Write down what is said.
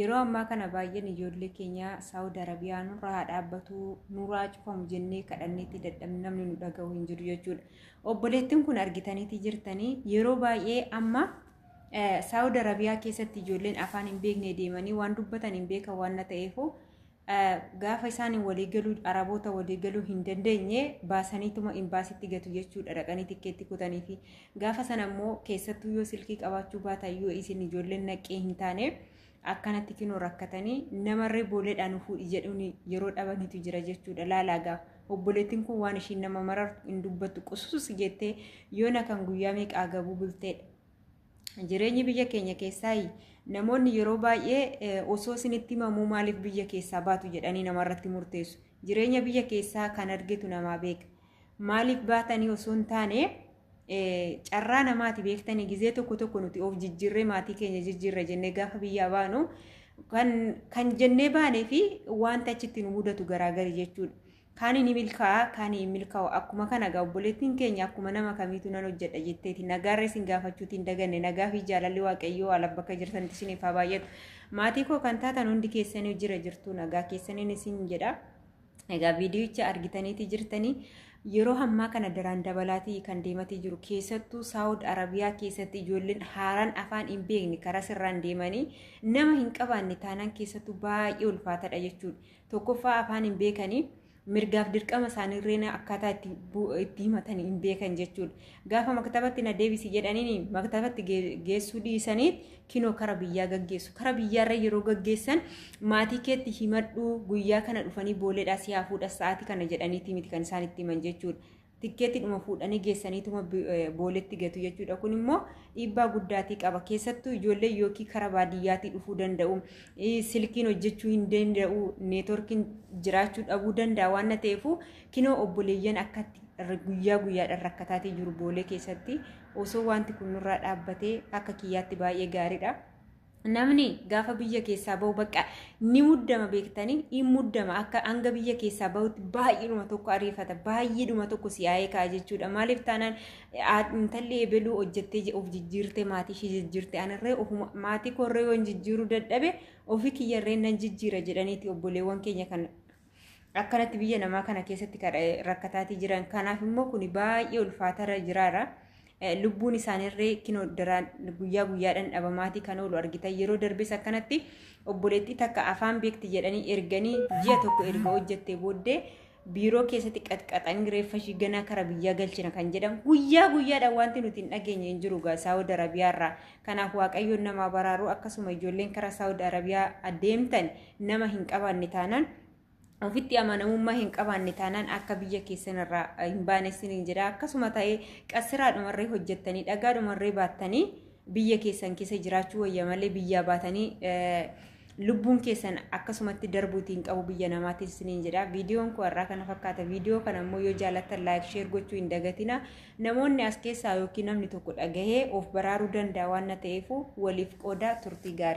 Yeroo ammaa kana baay'een ijoollee keenya Saawud Arabiyaa nurraa haa dhaabbatu, nurraa cufamu jennee kadhanneetti dadhabne namni nu dhaga'u hin jiru jechuudha. Obboleettiin kun argitaniiti jirtanii yeroo baay'ee amma Saawud Arabiyaa keessatti ijoolleen afaan hin beekne deemanii waan dubbatan hin beekan waan ta'eefuu Gaafa isaan waliigaluu Araboota waliigaluu hin dandeenye baasaniituma imbaasitti gatu jechuudha dhaqanii tikkeetti kutanii fi gaafa sana immoo keessattuu yoo silkii qabaachuu baatan yoo isin ijoolleen naqqee hin taane akkanatti kinoo rakkatanii namarree booleedhaan nu fuudhi jedhuun yeroo dhabanitu jira jechuudha laalaagaa obboleettiin kun waan ishiin nama marartu hin dubbattu qusuus jettee yoona kan guyyaa meeqaa gabuu bulteedha. Jireenyi biyya keenya keessaa namoonni yeroo baay'ee osoo isinitti himamuu maaliif biyya keessaa baatu jedhanii namarratti murteessu. Jireenya biyya keessaa kan argitu namaa beeka. Maaliif baatanii osoo hin taane carraa namaati beektanii gizee tokko tokko nuti of jijjiirree maatii keenya jijjiirra jennee gaafa biyyaa baanu kan jennee baanee fi wanta achitti nu mudatu garaagari jechuudha. Kaani ni milkaa'a, kaani hin milkaa'u. Akkuma kana egaa obboleettiin keenya akkuma nama kamiitu nan hojjedha jetteeti. Nagaarra isin gaafachuuti hin daganne. Nagaa fi jaalalli Waaqayyoo haala bakka jirtanitti isiniif haa baay'atu. Maatii koo kan taatan hundi keessanii jira jirtu nagaa keessaniin isin jedha. Egaa viidiyicha argitaniiti jirtanii yeroo ammaa kana daraan dabalaatii kan deematii jiru keessattuu saawud arabiyaa keessatti ijoolleen haaraan afaan hin beekne karaa sirraan deemanii nama hin qabaanne taanaan keessattuu baay'ee ulfaatadha jechuudha. Tokkoffaa afaan hin beekanii mirgaaf dirqama isaaniirreen akkaataa itti bu- itti himatan hin beekan jechuudha. Gaafa maktabatti na deebisi jedhaniin maktabatti gee- geessuu dhiisanii kinoo kara biyyaa gaggeessu. Kara biyyaarra yeroo gaggeessan maatii keetti himadhuu guyyaa kana dhufanii booleedhaa si haa fuudhan sa'aatii kana jedhaniitii miti kan isaan itti himan jechuudha. tikkeetiidhuma fuudhanii geessaniituma booletti gatu jechuudha. Kun immoo dhiibbaa guddaatii qaba. Keessattuu ijoollee yookiin kara baadiyyaatii dhufuu danda'u. Silkiin hojjechuu hin danda'u. Neetworkiin jiraachuu dhabuu danda'a waan ta'eef kinoo obboleeyyan akkatti guyyaa guyyaadhaan rakkataatee jiru boolee keessatti osoo wanti kun nurraa dhaabbatee akka kiyyaatti baay'ee gaariidha. Namni gaafa biyya keessaa bahu bakka ni muddama beektanii hin muddama akka hanga biyya keessaa bahutti baay'eedhuma tokko ariifata baay'eedhuma tokko si'aa'ee ka'a jechuudha maaliif taanaan intalli ebeluu hojjettee of jijjiirtee maatii ishee jijjiirtee anarree ofuma maatii koorree yoon jijjiiruu dadhabe ofii kiyyarree nan jijjiira jedhaniiti obboleewwan keenya kan akkanatti biyya namaa kana keessatti rakkataatii jiran kanaaf immoo kun baay'ee ulfaatarra jiraara. Lubbuun isaaniirree kinoo daraan guyyaa guyyaadhaan dhabamaatii kan oolu argitan yeroo darbes akkanatti obboleettii takka afaan beekti jedhanii erganii ji'a tokko erga hojjettee booddee biiroo keessatti qaxqaxanii reeffa ishii ganaa kara biyyaa galchina kan jedhan guyyaa guyyaadhaan wanti nuti hin dhageenye hin jiru gaa saawud arabiyaarraa kanaaf waaqayyoon namaa baraaruu akkasuma ijoolleen kara saawud arabiyaa adeemtan nama hin qabaanne taanaan ofitti amanamummaa hin qabaanne taanaan akka biyya keessan irraa hin baane siniin jedha akkasuma ta'ee qassiraa dhumarree hojjettanii dhagaa dhumarree baattanii biyya keessan keessa jiraachuu wayya malee biyyaa baatanii lubbuun keessan akkasumatti darbuutiin qabu biyya namaatti isiniin jedha viidiyoon koo irraa kana fakkaata viidiyoo kana immoo yoo jaallattan laayik sheer gochuu hin dagatina namoonni as keessaa yookiin namni tokko dhagahee of baraaruu danda'a waan na ta'eef waliif qooda turtii gaarii.